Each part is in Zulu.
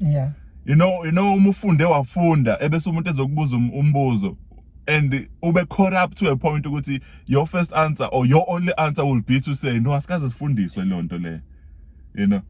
yeah you know you know uma ufunde wafunda ebese umuntu ezokubuza um-, umbuzo and ube caught up to a point ukuthi your first answer or your only answer will be to say no asikaze sifundiswe lonto le you know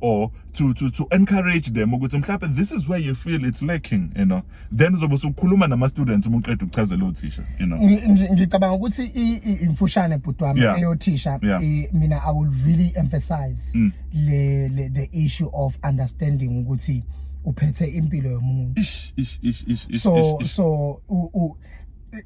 or to to to encourage them ukuthi mhlawumbe this is where you feel it's lacking you know then uzobe usukhuluma nama students uma uqeda ukuchazela uthisha you know Ngi- ngi- ngicabanga ukuthi i- i- imfushane bhuti wami Yeah. eyothisha Yeah. Mm. i- mina i will really emphasize le, le the issue of understanding ukuthi uphethe impilo yomuntu ish ish ish ish ish, so ish, ish. so u, u,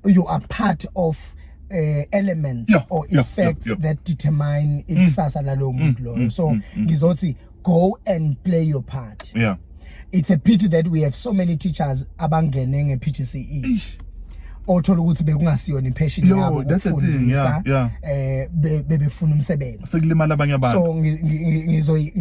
you are part of uh, elements yeah, or effects yeah, yeah, yeah. that determine mm. ikusasa mm. lalowo muntu loyo mm, so mm, mm. ngizothi go and play your part yeah it's a pity that we have so many teachers abangene nge PGCE othola ukuthi bekungasiyona impassion yabo ukufundisa eh bebefuna umsebenzi sekulimala abanye abantu so ngizoyi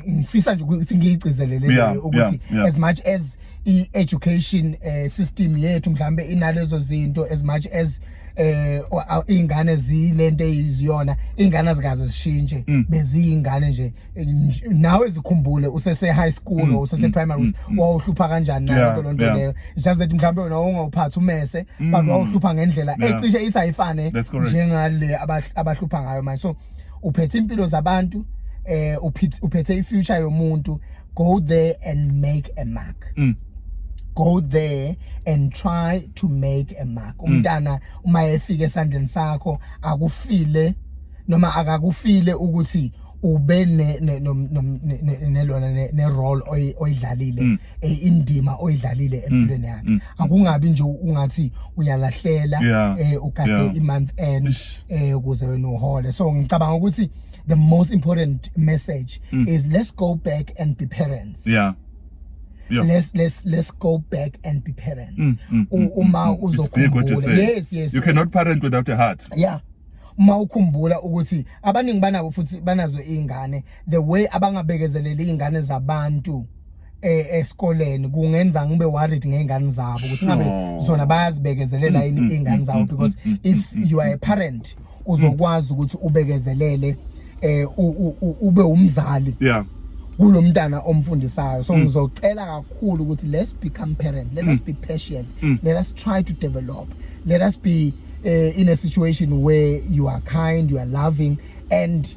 ngifisa nje ukuthi ngiyigcizelele ukuthi as much as i-education eh, system yethu mhlambe inalezo zinto as much as eh ingane zilento eziyona ingane azikaze zishintshe mm. beziyingane nje nawe ezikhumbule usese high school mm, usese mm, primary wawuhlupha kanjani nayo lonto leyo just that mhlambe wena ungawuphathi umese but wawuhlupha ngendlela ecishe ithi ayifane njengale abahlupha ngayo manje so uphethe impilo zabantu eh uphethe ifuture yomuntu go there and make a mark mm. go there and try to make a mark mm. umntana uma efika esandleni sakho akufile noma akakufile ukuthi ube ne nelona ne role oyidlalile mm. e, indima oyidlalile mm. empilweni yakhe mm. akungabi nje ungathi uyalahlela eh, ugade i month end eh, ukuze wena uhole so ngicabanga ukuthi the most important message mm. is let's go back and be parents yeah Yeah. let's let's let's go back and be parents mm, mm, mm, mm uma mm, uzokhumbula yes yes you cannot parent without a heart yeah uma ukhumbula ukuthi abaningi banabo futhi banazo izingane the way abangabekezeleli izingane zabantu eh, esikoleni kungenza ngibe worried ngezingane zabo ukuthi ngabe Sure. zona bayazibekezelela Mm, yini mm, izingane mm, zabo mm, because mm, mm, if mm, you are a parent uzokwazi ukuthi ubekezelele eh u- u- u- ube umzali yeah kulomntana omfundisayo so ngizocela kakhulu ukuthi let's become parent let us be patient let us try to develop let us be uh, in a situation where you are kind you are loving and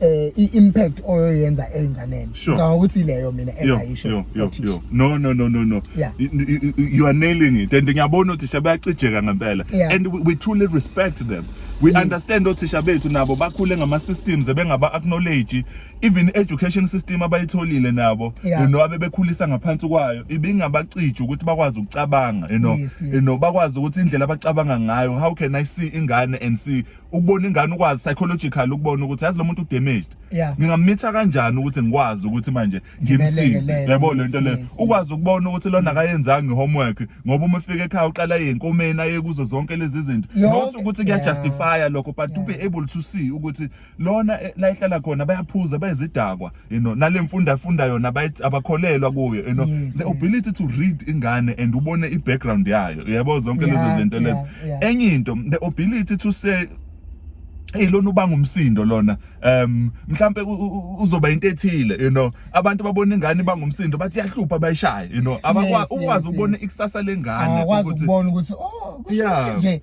eh i-impact oyoyenza enganeni ngicabanga ukuthi leyo mina engayisho yo yo yo no no no no no yeah. you are nailing it and ngiyabona uthisha bayacijeka ngempela yeah. and we, we truly respect them we yes. understand othisha bethu nabo bakhule ngama systems ebengaba acknowledge even education system abayitholile nabo yeah. you know abebekhulisa ngaphansi kwayo ibingabacija ukuthi bakwazi ukucabanga you know yes, yes. you know bakwazi ukuthi indlela abacabanga ngayo how can i see ingane and see ukubona ingane ukwazi psychological ukubona ukuthi yazi lo muntu udamaged Yeah. ngingamitha kanjani ukuthi ngikwazi ukuthi manje ngimsize Ngimelekelele, yabo lento le yes, yes, ukwazi ukubona ukuthi lona akayenzanga i-homework ngoba uma ufika ekhaya uqala yenkomeni aye kuzo zonke lezi zinto Yonke- not ukuthi Yeah. kuyajustifya lokho but to be able to see ukuthi lona eh, la ehlala khona bayaphuza bayizidakwa you know nalemfunda funda yona abayithi abakholelwa kuyo you know Yes, the yes. ability to read ingane and ubone i background yayo uyabo zonke Yeah, lezi zinto lezo yeah, yeah. enye into the ability to say Hey lona ubanga umsindo lona um mhlambe u- u- uzoba into ethile you know abantu babona ingane ibanga umsindo bathi yahlupha bayishaye you know abakwazi Yes, ukwazi yes, ukubona yes. ikusasa lengane awakwazi ukuthi- ukubona ukuthi oh kusho Yeah. ukuthi nje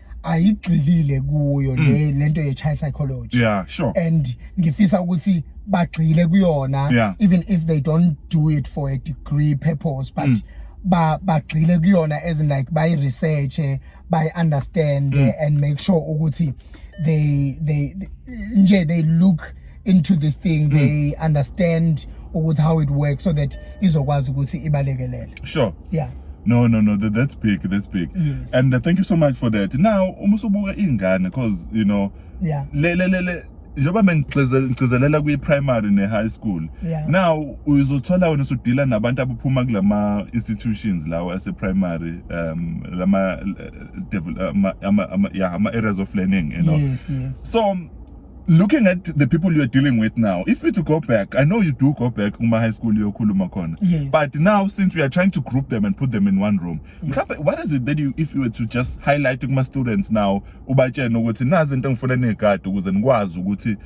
ayigxilile kuyo mm. le lento ye child psychology yeah sure and ngifisa ukuthi bagxile kuyona yeah. even if they don't do it for a degree purpose but mm. ba bagxile kuyona as in like by research by understand mm. and make sure ukuthi they they nje they look into this thing mm. they understand ukuthi how it works so that izokwazi ukuthi ibalekelele sure yeah No, no, no, that, that's big, that's big. Yes. And uh, thank you so much for that. Now, uma usubuka ingane because you know, yeah. Le le le le njengoba mengigcizelela kwi-primary ne-high school yeah. now uzothola wena usudila nabantu abaphuma kulama institutions lawo ase-primary um lama eh, eh, ama, ama, ama, yeah, ama areas of learning you know? yes, yes. so looking at the people you're dealing with now if you to go back i know you do go back kuma high school yokhuluma khona yes. but now since we are trying to group them and put them in one room yes. what is it that you if you were to just highlight kuma students now ubatshena ukuthi nazi into engifuna nigade ukuze nikwazi ukuthi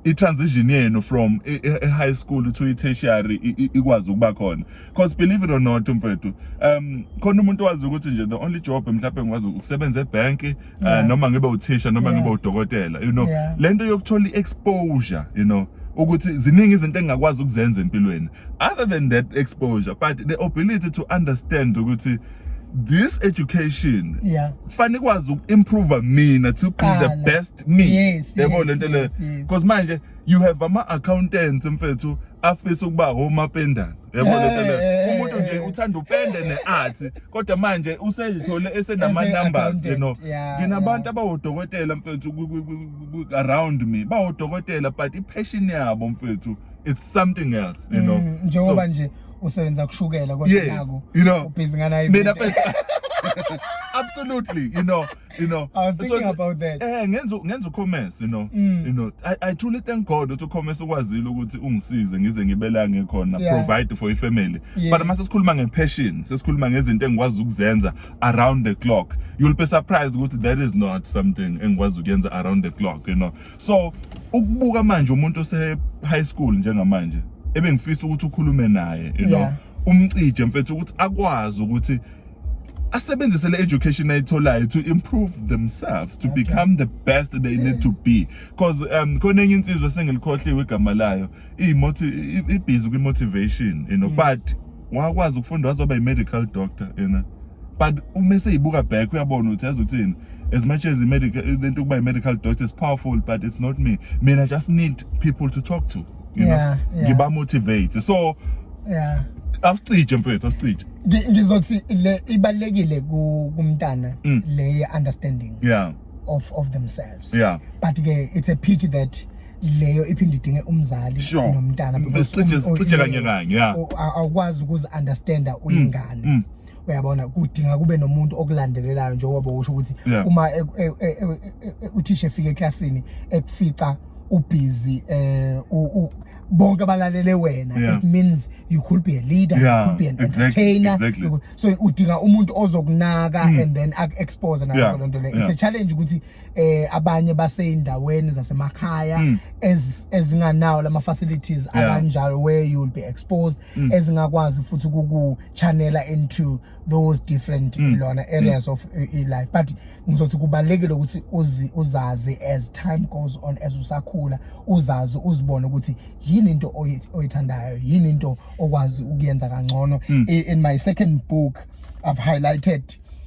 i-transition yenu from e-high school to i-tertiary ikwazi ukuba khona because believe it or not mfethu um khona umuntu wazi ukuthi nje the only job mhlawumbe ngikwazi ukusebenza ebhenki eh, yeah. uh, noma ngibe uthisha noma yeah. ngibe udokotela you know yeah. lento yokuthola iexposure you know ukuthi ziningi izinto engingakwazi ukuzenza empilweni other than that exposure but the ability to understand ukuthi this education yeah fanele ikwazi ukuimprove mina to be the best me yes, yebo yes, lento le yes, yes. because manje you have ama accountants mfethu afisa ukuba home apendana yebo Eh, lento le eh, umuntu nje eh. uthanda upende ne-art kodwa manje usezithole esenama-numbers you know Ese-accountant, yeah, nginabantu yeah. abawodokotela mfethu ku- ku- ku- ku- ku- around me bawodokotela but i-passion yabo mfethu it's something else you know Mm, njengoba So, nje usebenza kushukela kodwa yes naku you know ubhizi ngana mina mfethu absolutely you know you know i was thinking about that eh ngenza ngenza ucommerce you know mm. you know i i truly thank god ukuthi ucommerce ukwazile ukuthi ungisize ngize ngibelange khona yeah. provide for i family yes. but mase sikhuluma ngepassion sesikhuluma ngezinto engikwazi ukuzenza around the clock you'll be surprised ukuthi that is not something engikwazi ukuyenza around the clock you know so ukubuka manje umuntu ose high school njengamanje ebengifisa ukuthi ukhulume naye you know yeah. umcije mfethu ukuthi akwazi ukuthi asebenzise le education ayitholayo to improve themselves to okay. become the best they yeah. need to be because um khona enye insizwa esengilikhohliwe igama layo imothi ibhizi kwi motivation you know yes. but wakwazi ukufunda wazoba i medical doctor you know but uma eseyibuka back uyabona ukuthi yazi ukuthini as much as i-medical lento ukuba i-medical doctor is powerful but it's not me mina just need people to talk to you know Yeah, yeah. ngiba motivate so yeah asicije mfethu asicije Ngi- ngizothi le ibalekile ku- kumntana Mm. le understanding yeah of of themselves Yeah. but ke it's a pity that leyo iphinde idinge umzali Sure. nomntana because Sicije- um- sicije kanye yes, kanye, yeah. u- a- awukwazi ukuzi understanda uyingane mm. uyabona kudinga kube nomuntu okulandelelayo njengoba bowusho ukuthi yeah. uma e, e, e, uthisha efika eklasini ekufica ubhizi eh bonke abalalele wena yeah. it means you could be a leader yeah, you could be an exactly, entertainer exactly. Could, so udinga umuntu ozokunaka mm. and then expose nayo yeah, lonto le yeah. it's a challenge ukuthi eh abanye baseyindaweni zasemakhaya mm. ezinganawo lama facilities yeah. abanjalo where you will be exposed mm. ezingakwazi futhi kuku channela into those different mm. lona mm. areas mm. of uh, eh, life but ngizothi kubalekile ukuthi uzi uzazi as time goes on as usakhula uzazi uzibone ukuthi yini into oyithandayo yini into okwazi ukuyenza kangcono mm. in my second book i've highlighted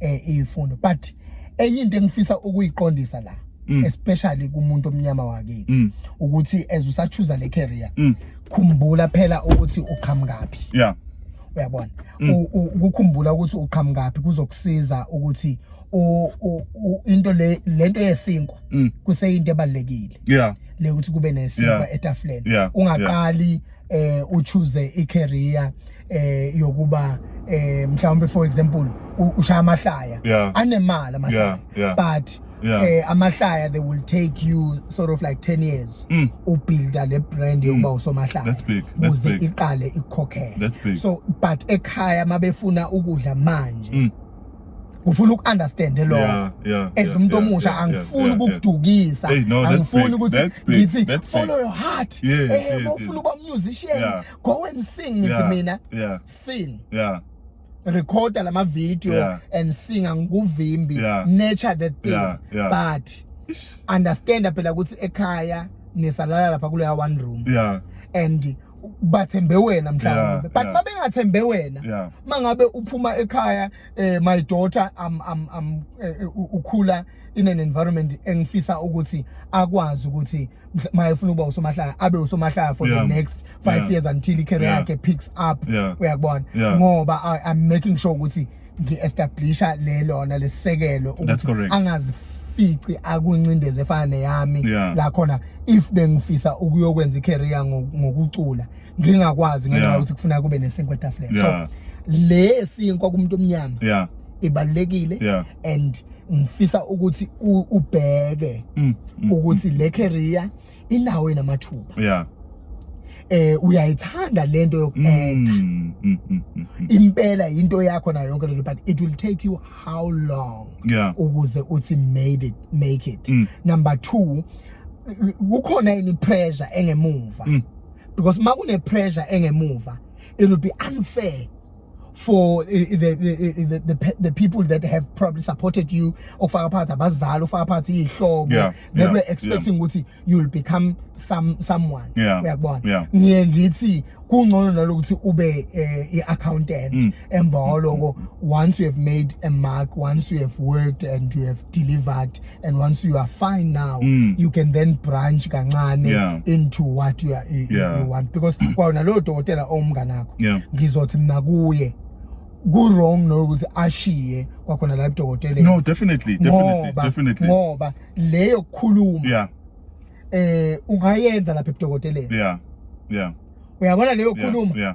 eh ifundo but enye into engifisa ukuyiqondisa la mm. especially kumuntu omnyama wakithi mm. ukuthi as usachuza le career mm. khumbula phela ukuthi uqhamukaphi yeah uyabona mm. ukukhumbula ukuthi uqhamukaphi kuzokusiza ukuthi into le lento yesinkwa mm. kuseyinto ebalekile yeah le ukuthi kube nesinkwa etafuleni ungaqali eh uchoose i career eh yokuba eh mhlawumbe for example u- ushaya amahlaya Yeah. anemali amahlaya Yeah, yeah. but Yeah. eh amahlaya they will take you sort of like 10 years Mm. ubuilda le brand yokuba usomahlaya That's big, that's kuze big. iqale ikukhokhele That's big. so but ekhaya mabefuna ukudla manje Mm. kufuna uku-understand lokho Yeah, yeah, as yeah, umuntu yeah, omusha yeah, angifuni yeah, yeah. ukukudukisa Hey, no, that's angifuni big, ukuthi that's big, ngithi that's big. follow your heart Yes, eh yes, mawufuna yes. ukuba musician Yeah. go and sing ngithi Yeah, mina yeah. sing yeah recorda lama video Yeah. and sing angikuvimbi Yeah. nature that thing Yeah, yeah. but understand phela ukuthi ekhaya nisalala lapha kuleya one room yeah and bathembe wena mhlawumbe Yeah, but yeah. mabengathembe wena Yeah. mangabe uphuma ekhaya eh, my daughter am am am eh, u- ukhula in an environment engifisa ukuthi akwazi ukuthi mhla- maye ufuna ukuba usomahlaya abe usomahlaya for Yeah. the next five Yeah. years until i-career Yeah. yakhe picks up Yeah. uyakubona Yeah. ngoba I- i'm making sure ukuthi ngi-establisha le lona lesisekelo That's ukuthi correct. angazifici akuncindezi efana neyami Yeah. la khona if bengifisa ukuyokwenza i-career ngo- ngokucula ngingakwazi ngenxa Yeah. yokuthi kufuna kube nesinkwa etafuleni Yeah. so le esinkwa kumuntu omnyama yeah ibalulekile yeah. and ngifisa ukuthi ubheke mm, mm, ukuthi mm. le career inawo inamathuba yeah eh uyayithanda lento yokuactor mm, mm, mm, mm, mm. impela into yakho nayo yonke lento but it will take you how long yeah. ukuze uthi made it make it mm. number 2 kukhona ini pressure engemuva mm. because makune pressure engemuva it will be unfair for uh, the, the, the, the people that have probably supported you okufaka phakathi abazali ofaka phakathi iy'hlobo yeah, they yeah, were expecting ukuthi yeah. you'll become some someone uyakubona yeah. ngiye ngithi kungcono nalokuthi ube uh, i-accountant mm. emva kwaloko once you have made a mark once you have worked and you have delivered and once you are fine now mm. you can then branch kancane yeah. into what you, are, you, yeah. you want because kwawona lowo dokotela owumnganakho yeah. ngizothi mina kuye ku-wrong nokuthi ashiye kwakhona la ebudokoteleni no definitely definitely definitely ngoba leyo kukhuluma yeah eh ungayenza lapha ebudokoteleni yeah yeah uyabona leyo kukhuluma yeah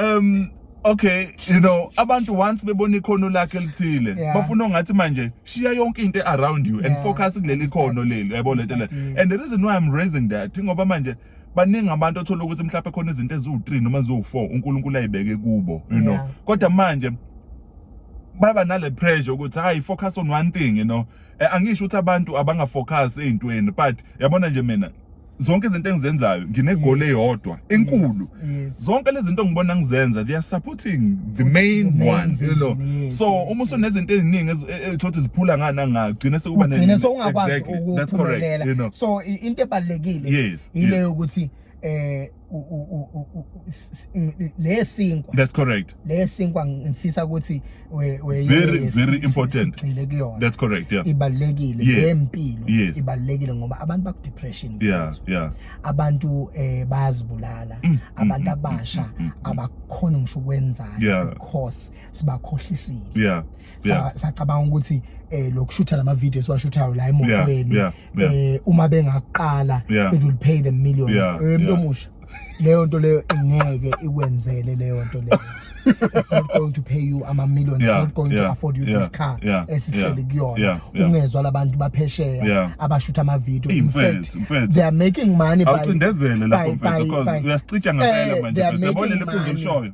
um okay you know abantu once bebona ikhono lakhe lithile Yeah. bafuna ongathi manje shiya yonke into around you and Yeah, focus kuleli and ikhono start- leli yabo and lento le start, yes. and the reason why i'm raising that ngoba manje baningi abantu othola ukuthi mhlawumbe khona izinto eziwu-3 noma ziwu-4 unkulunkulu ayibeke kubo you know Yeah. kodwa manje baba nale pressure ukuthi hayi focus on one thing you know Eh, angisho ukuthi abantu abangafocus ey'ntweni but yabona nje mina zonke izinto engizenzayo nginegoli Yes. eyodwa enkulu Yes, yes. zonke lezi zinto ngibona ngizenza they are supporting the main The main one you know vision, yes, so yes, uma usunezinto eziningi ezi- e- e- thothi ziphula ngana ngagcina sekuba ne- ugcine sowungakwazi Exactly. That's correct, you ukuphumelela know. so i- into ebalulekile Yes, yile yes. yokuthi eh lesinkwa that's correct lesinkwa ngifisa ukuthi we we very very important sigcile kuyona that's correct yeah ibalekile ngempilo yes. ibalekile ngoba abantu baku depression yeah yeah abantu eh bayazibulala mm, mm, abantu mm, abasha abakhona ngisho ukwenzani because sibakhohlisile yeah Yeah. sa- sacabanga ukuthi eh lokushutha lama video esiwashuthayo la emotweni Yeah, yeah, eh uma bengaqala Yeah. it will pay them millions Yeah, eh mntu yeah. omusha leyo nto leyo ingeke ikwenzele leyo nto leyo it's not going to pay you ama millions Yeah, it's not going to yeah, afford you yeah, this car yeah, esihleli yeah, yeah, kuyona yeah. ungezwa labantu baphesheya Yeah. abashutha ama video Hey, in mfethu, fact mfethu. they are making money by- awucindezele lapho by- by- mfethu because by- uyasicija ngempela Eh, manje they are mfethu yabona making leli phuzu money. olishoyo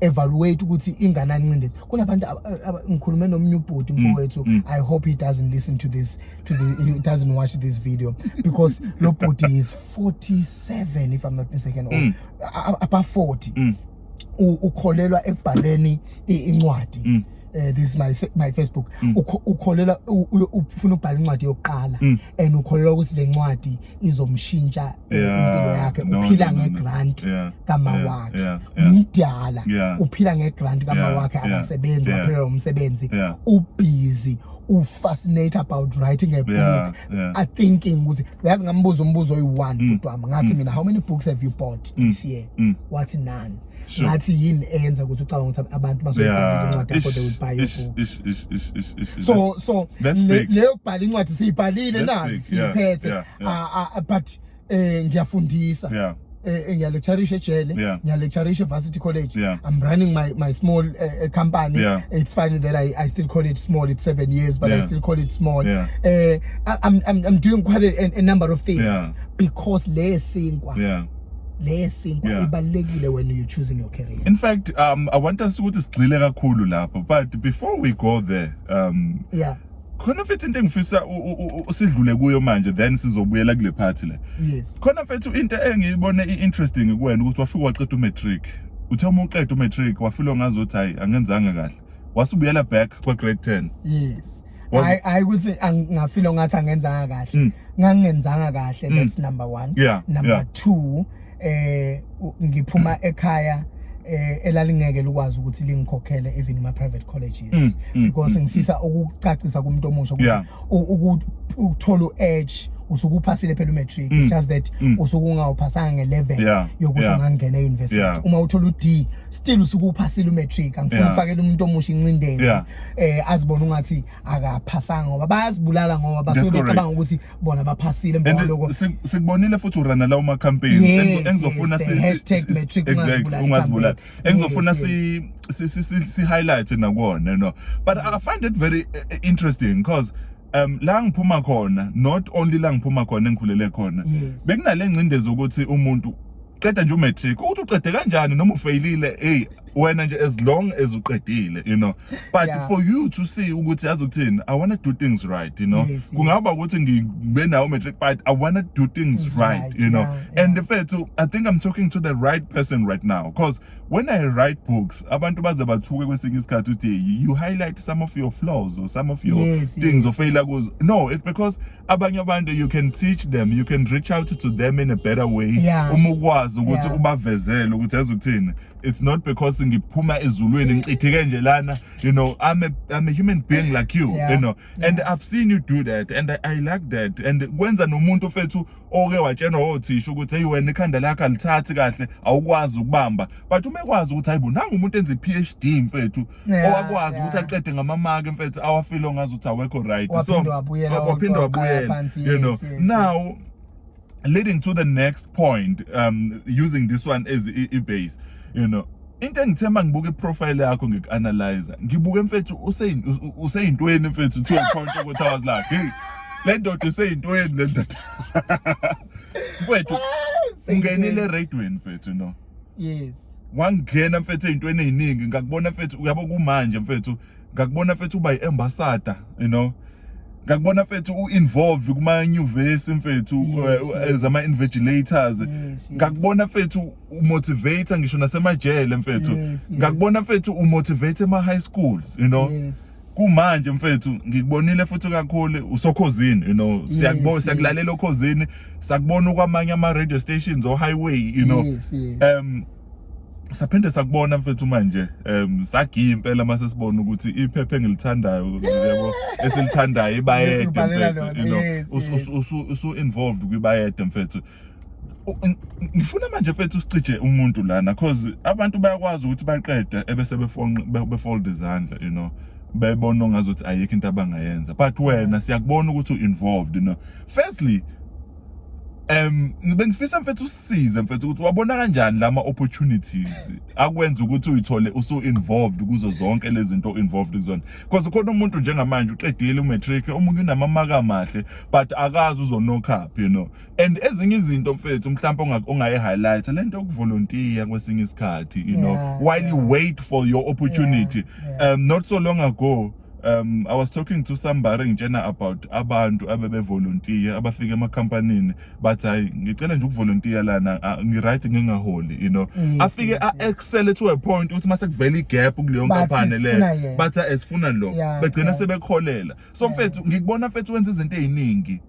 evaluate ukuthi inganani incindezi kunabantu ngikhulume nomunye ubhuti mm, mfowethu mm. i hope he doesn't listen to this to the he doesn't watch this video because lo bhuti is 47 if i'm not mistaken or mm. above 40 ukholelwa ekubhaleni incwadi eh this is my se- my Facebook Mm. Ukho- ukholela u- u- ufuna ubhala incwadi yokuqala Mm. and ukholela ukuthi le ncwadi izomshintsha eh, Yeah, impilo yakhe no, uphila no, no, nge no. grant Yeah, kama yeah, wakhe yeah, yeah. umdala Yeah. uphila nge grant kama Yeah, wakhe yeah, akasebenzi yeah. waphelelwa umsebenzi Yeah. ubusy ufascinate about writing a book Yeah, yeah. i thinking ukuthi uyazi ngambuza umbuzo oyi-one kodwa ngathi mina how many books have you bought this year Mm. wathi none ngathi yini eyenza ukuthi ucabanga ukuthi abantu bazoyibhala incwadi yakho they will buy your book so so leyo kubhala incwadi siyibhalile na siphethe but eh ngiyafundisa yeah eh, eh ngiyalecturisha ejele yeah. ngiyalecturisha evarsity college yeah. i'm running my my small uh, company yeah. it's funny that i i still call it small it's 7 years but yeah. i still call it small yeah. uh, i'm i'm i'm doing quite a, a number of things yeah. because le sinkwa yeah leyesinkwa yeah. ibalekile when you choosing your career in fact um i want us ukuthi sigxile kakhulu lapho but before we go there um yeah khona mfethu into engifisa sidlule kuyo manje then sizobuyela kule party le yes khona mfethu into engiyibone iinteresting kuwena ukuthi wafika waqeda umatric uthe uma uqeda umatric wafilo ngazothi hayi angenzanga kahle wasubuyela back kwa grade 10 yes Was- hayi hayi ukuthi ang- ngafilo ngathi angenzanga kahle Mm. ngangingenzanga kahle Mm. that's number one Yeah, number yeah. two eh u- ngiphuma ekhaya eh elalingeke likwazi ukuthi lingikhokhele even kuma private colleges Mm, mm, because mm, ngifisa ukucacisa kumuntu omusha ukuthi Yeah. u- uku- ukuthola u-edge usuke uphasile phela umatric Mm, it's just that mm. usuke ungawuphasanga ngelevel Yeah, yokuthi yeah. ungangena e-university Yeah. uma uthola u-d still usuke uphasile umatric angifuni Yeah. ukufakela umuntu omusha incindezi Yeah. eh azibona ungathi akaphasanga ngoba bayazibulala ngoba basuke becabanga ukuthi bona baphasile emva lokho sikubonile futhi urana la uma campaign engizofuna si hashtag matric ungazibulala engizofuna si si si si highlight nakona no but i find it very eh, eh, interesting because um la ngiphuma khona not only la ngiphuma khona engikhulele khona bekunale ngcindezi ukuthi umuntu qeda nje umatric ukuthi uqede kanjani noma ufeyilile hey wena nje as long as uqedile you know but Yeah. for you to see ukuthi yazi ukuthini i want to do things right you know Yes, kungaba ukuthi ngibe nawo matric but i want to do things Things right, right, you know yeah, yeah. and mfethu i think i'm talking to the right person right now because when i write books abantu baze bathuke kwesinye isikhathi uthi you highlight some of your flaws or some of your Yes, things yes, ofeyila kuzo no it because abanye abantu you can teach them you can reach out to them in a better way Yeah. uma ukwazi ukuthi Yeah. ubavezele ukuthi yazi ukuthini it's not because ngiphuma ezulwini ngichithike nje lana you know i'm a, I'm a human being like you Yeah. you know and i've seen you do that and i, I like that and kwenza nomuntu fethu oke watshenwa othisha ukuthi hey wena ikhanda lakho alithathi kahle awukwazi ukubamba but uma ekwazi ukuthi hayibo nangu umuntu enza i-phd mfethu Yeah, owakwazi yeah. ukuthi aqede ngamamaki mfethu awafilo ngazi ukuthi awekho right so Waphinde wabuyela, waphinde waqala wabuyela phansi, you know yes, yes, yes. now leading to the next point um using this one as i- i-base you know into engithemba ngibuke iprofile yakho ngiku-analyzer ngibuke mfethu useyin- u- u- useyintweni mfethu to a point ukuthi i was like hey le ndoda iseyintweni le ndoda mfethu ungenile eradweni mfethu no yes wangena mfethu ezintweni eziningi ngakubona mfethu uyabo kumanje mfethu ngakubona mfethu uba yi-ambassador you know ngakubona mfethu u-involve kuma-nyuvesi mfethu as ama-invigilators ngakubona mfethu umotivate ngisho nasemajele mfethu ngakubona mfethu umotivate ema-high schools you know yes. kumanje mfethu ngikubonile futhi kakhulu usokhozini you know siyakubona yes, siyakulalela yes. okhozini sakubona kwamanye ama radio stations o highway you know yes, yes. um saphinde sakubona mfethu manje um sagiya impela mase sibona ukuthi iphephe engilithandayo yebo esilithandayo ibayede mfethu you know usu involved kwibayede mfethu ngifuna manje mfethu usicije umuntu lana cause abantu bayakwazi ukuthi baqede ebese befonqa befold izandla you know bebona ongazi ukuthi ayikho into abangayenza but wena siyakubona ukuthi u-involved you know firstly um bengifisa mfethu usize mfethu ukuthi wabona kanjani lama opportunities akwenza ukuthi uyithole usu involved kuzo zonke lezi zinto involved kuzona because khona umuntu njengamanje uqedile umatric omunye unamamaka amahle but akazi uzonokaphi you know and ezinye izinto mfethu mhlawumbe ongayi highlight lento yokuvolunteer kwesinye isikhathi you know yeah, while yeah. you wait for your opportunity yeah, yeah. um not so long ago um i was talking to somebody ngitshena about abantu abebevolunteer abafika emakhampanini bathi hayi ngicela nje ukuvolunteer lana ngiright ngingaholi you know yes, afike yes, a excel yes. to a point ukuthi mase kuvela igap kuleyo nkampani le bathi esifuna lo yeah, begcina yeah. sebekholela so mfethu ngikubona mfethu wenza izinto eziningi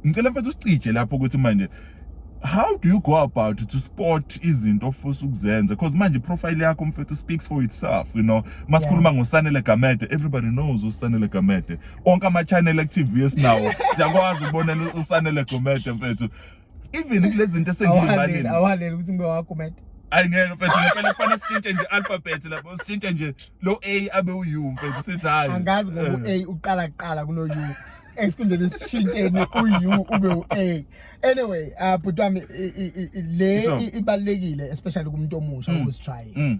ngicela mfethu usicije lapho ukuthi manje how do you go about to spot izinto ofisa ukuzenza because manje profile yakho mfethu speaks for itself you know masikhuluma yeah. ngosanele gamede everybody knows usanele gamede onke ama channel active esinawo siyakwazi ukubonela usanele gamede mfethu even kulezi zinto esengiyibhalile awaleli ukuthi ngibe wakomedi ayi ngeke mfethu ngempela kufanele sitshintshe nje alphabet lapho sitshintshe nje lo a abe u mfethu sithi hayi angazi ngoba u-a eh. uqala kuqala kuno-u esikhundleni esishintsheni uyu ube u-a anyway uh, bhuti wami le ibalulekile especially kumuntu omusha mm. who's trying mm.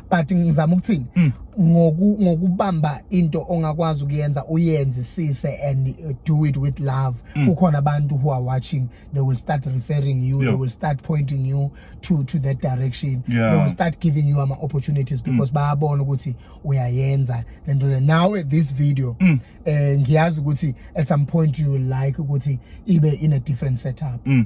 but ngizama ukuthini mm. ngoku ngokubamba into ongakwazi ukuyenza uyenzisise and uh, do it with love mm. kukhona abantu who are watching they will start referring you yeah. they will start pointing you to to that direction yeah. they will start giving you ama opportunities mm. because mm. bayabona ukuthi uyayenza lento le now this video mm. eh ngiyazi ukuthi at some point you will like ukuthi ibe in a different setup mm.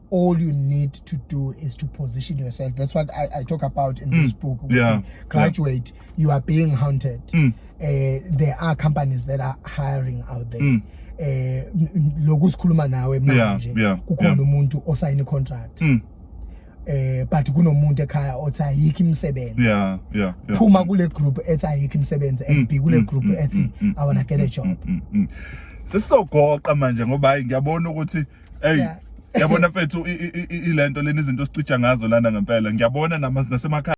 all you need to do is to position yourself that's what i, I talk about in mm. this book yeah. graduate yeah. you are being hunted mm. uh, there are companies that are hiring out there mm. eh lokhu sikhuluma nawe manje kukhona umuntu osayine contract mm. eh but kunomuntu ekhaya othi ayikho imisebenzi yeah yeah phuma kule group ethi ayikho imisebenzi mm, and kule mm, group mm, ethi i want to get a job sesizogoqa manje ngoba hayi ngiyabona ukuthi mm. hey yeah. yabona mfethu ilento leni izinto sicija ngazo lana ngempela ngiyabona nasemakhaya